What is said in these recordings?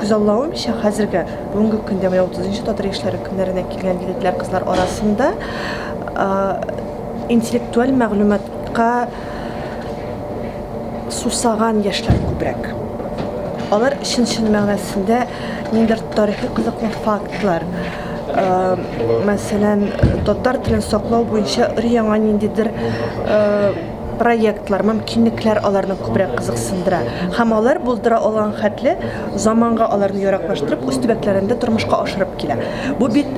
Күзаллавымча, хәзерге, бүгенге көндә менә 30 нчы Татар яшьләре көннәренә килгән егетләр-кызлар арасында интеллектуаль мәгълүматка сусаган яшьләр күбрәк. Алар чын-чын мәгънәсендә ниндидер тарихи кызыклы фактлар, мәсәлән, татар телен саклау буенча өр-яңа ниндидер проектлар, мөмкинлекләр аларны күбрәк кызыксындыра һәм алар булдыра алган хәтле заманга аларны яраклаштырып үз төбәкләрендә тормышка ашырып килә. Бу бит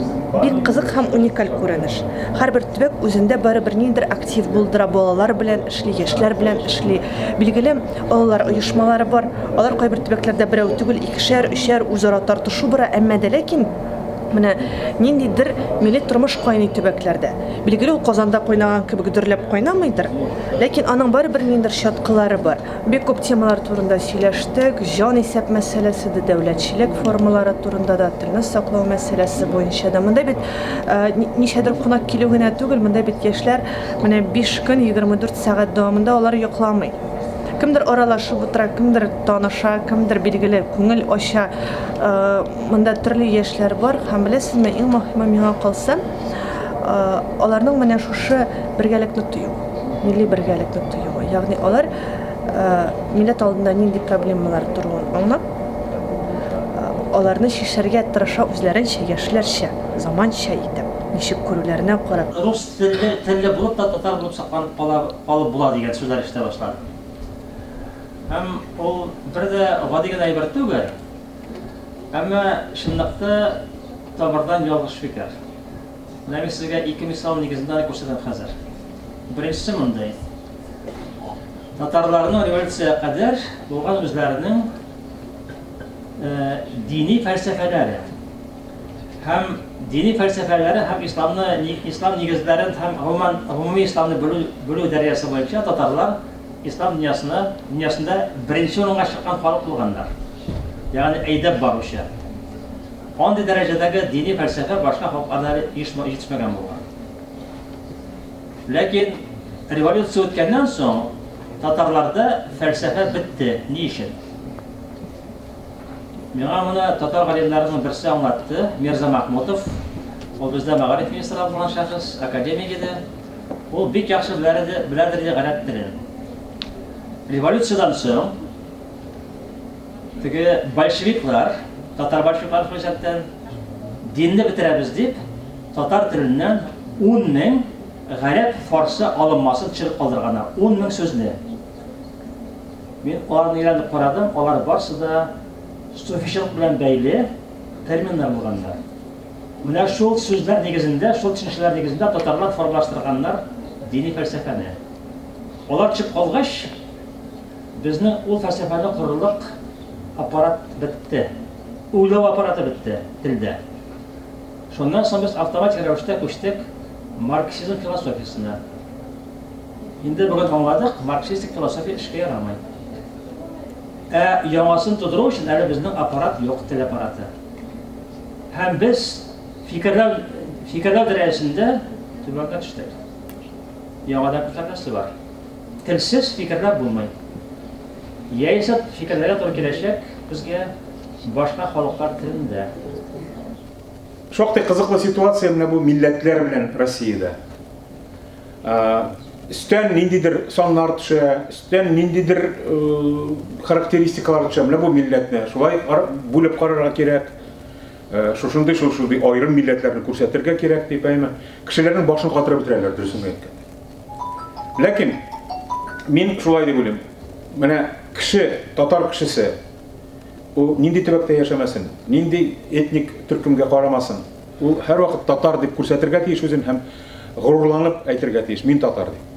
бик кызык һәм уникаль күренеш. Һәрбер төбәк үзендә барыбер ниндидер актив булдыра, балалар белән эшли, яшьләр белән эшли. Билгеле, олылар оешмалары бар, алар кайбер төбәкләрдә берәү түгел, икешәр, өчәр, үзара тартышу бара, әмма дә ләкин, Менә ниндидер милли тормыш кайный төбәкләрдә. Билгеле, ул Казанда кайнаган кебек дөрләп кайнамыйдыр, ләкин аның барыбер ниндидер чаткылары бар. Бик күп темалар турында сөйләштек, җан исәп мәсьәләсе дә, дәүләтчелек формалары турында да, телне саклау мәсьәләсе буенча да. Монда бит ничәдер кунак килү генә түгел, монда бит яшьләр менә биш көн, 24 сәгать дәвамында алар йокламый. Кемдер аралашып утыра, кемдер таныша, кемдер, билгеле, күңел ача. Монда төрле яшьләр бар һәм беләсезме, иң мөһиме миңа калса, аларның менә шушы бергәлекне тою, милли бергәлекне тоюы. Ягъни алар милләт алдында нинди проблемалар торуын аңлап, аларны чишәргә тырыша үзләренчә, яшьләрчә, заманча итеп, ничек күрүләренә карап. Рус телле булып та татар булып сакланып калып була дигән сүзләр ишетә башладым. Һәм ул бер дә гади генә әйбер түгел. Әмма чынлыкта тамырдан ялгыш фикер. Менә мин сезгә ике мисал нигезендә аны күрсәтәм хәзер. Беренчесе мондый. Татарларның революциягә кадәр булган үзләренең э, дини фәлсәфәләре һәм дини фәлсәфәләре һәм исламны ислам нигезләрен һәм гомумән гомуми исламны белү белү дәрәҗәсе буенча татарлар ислам дөньясына дөньясында беренче урынга чыккан халык булганнар. ягъни әйдәп баручы. Андый дәрәҗәдәге дини фәлсәфә башка халыкларда әле җитешмәгән булган. Ләкин революция үткәннән соң татарларда фәлсәфә бетте. Ни өчен? Миңа моны татар галимнәренең берсе аңлатты, Мирза Махмутов. Ул бездә мәгариф министры булган шәхес, академик иде. Ул бик яхшы беләдер иде гарәп телен. Революциядән соң Теге большевиклар, татар большевиклар хәҗәттән динне бетерәбез дип, татар теленнән 10 мең гарәп фарсы алынмасын төшереп калдырганнар. 10 мең сүзне. Мин аларны өйрәнеп карадым, алар барсы да суфичылык белән бәйле терминнар булганнар. Менә шул сүзләр нигезендә, шул төшенчәләр нигезендә татарлар формалаштырганнар дини фәлсәфәне. Алар чык калгач, Безнең ул фәлсәфәне корырлык аппарат бетте. Уйлау аппараты бетте телдә. Шуннан соң без автоматик рәвештә күчтек марксизм философиясенә. Инде бүген аңладык, марксистик философия эшкә ярамый. Ә яңасын тудыру өчен әле безнең аппарат юк, тел аппараты. Һәм без фикерләү фикерләү дәрәҗәсендә түбәнгә төштек. Яңадан күтәреләсе бар. Телсез фикерләп булмый. Яисә фикерләргә туры киләчәк безгә башка халыклар телендә. Шактый кызыклы ситуация менә бу милләтләр белән Россиядә. Өстән ниндидер саннар төшә, өстән ниндидер характеристикалар төшә. Менә бу милләтне шулай бүлеп карарга кирәк. Шушындый шушындый аерым милләтләрне күрсәтергә кирәк дип, әйме. Кешеләрнең башын катырып бетерәләр, дөресен әйткәндә. Ләкин мин шулай дип уйлыйм. Менә кеше, татар кешесе, ул нинди төбәктә яшәмәсен, нинди этник төркемгә карамасын, ул һәрвакыт татар дип күрсәтергә тиеш үзен һәм горурланып әйтергә тиеш, мин татар дип.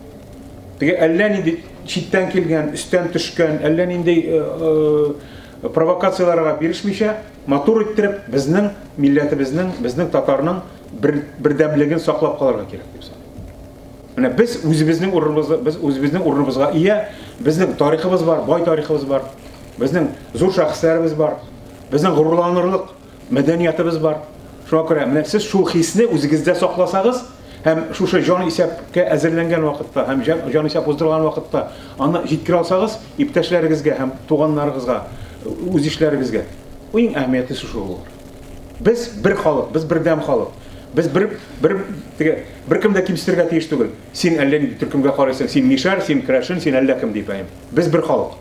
Теге әллә нинди читтән килгән, өстән төшкән, әллә нинди э, э, провокацияләргә бирешмичә, матур иттереп безнең милләтебезнең, безнең татарның бер, бердәмлеген саклап калырга кирәк дип саныйм. Менә без үзебезнең урыныбызны, без үзебезнең урыныбызга ия, безнең тарихыбыз бар, бай тарихыбыз бар, безнең зур шәхесләребез бар, безнең горурланырлык мәдәниятыбыз бар. Шуңа күрә менә сез шул хисне үзегездә сакласагыз, һәм шушы җан исәпкә әзерләнгән вакытта, һәм җан исәп уздырган вакытта аны җиткерә алсагыз, иптәшләрегезгә һәм туганнарыгызга, үз ишләрегезгә. Иң әһәмиятлесе шул. Без бер халык, без бердәм халык. Без бер бер теге беркем дә кимсетергә тиеш түгел. Син әллә нинди төркемгә карыйсың, син мишәр, син крәшен, син әллә кем дип әйм. Без бер халык.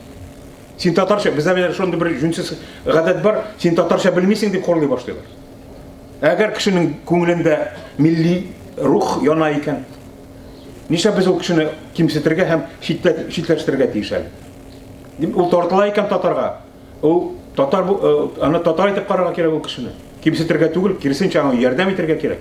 Син татарча, бездә менә шундый бер җүнсез гадәт бар, син татарча белмисең дип хурлый башлыйлар. Әгәр кешенең күңелендә милли рух яна икән, нишлә без ул кешене кимсетергә һәм читләштерергә тиеш әле? Дип ул тартыла икән татарга, Ул татар бу, э, аны татар итеп карарга кирәк ул кешене. Кимсетергә түгел, киресенчә аңа ярдәм итәргә кирәк.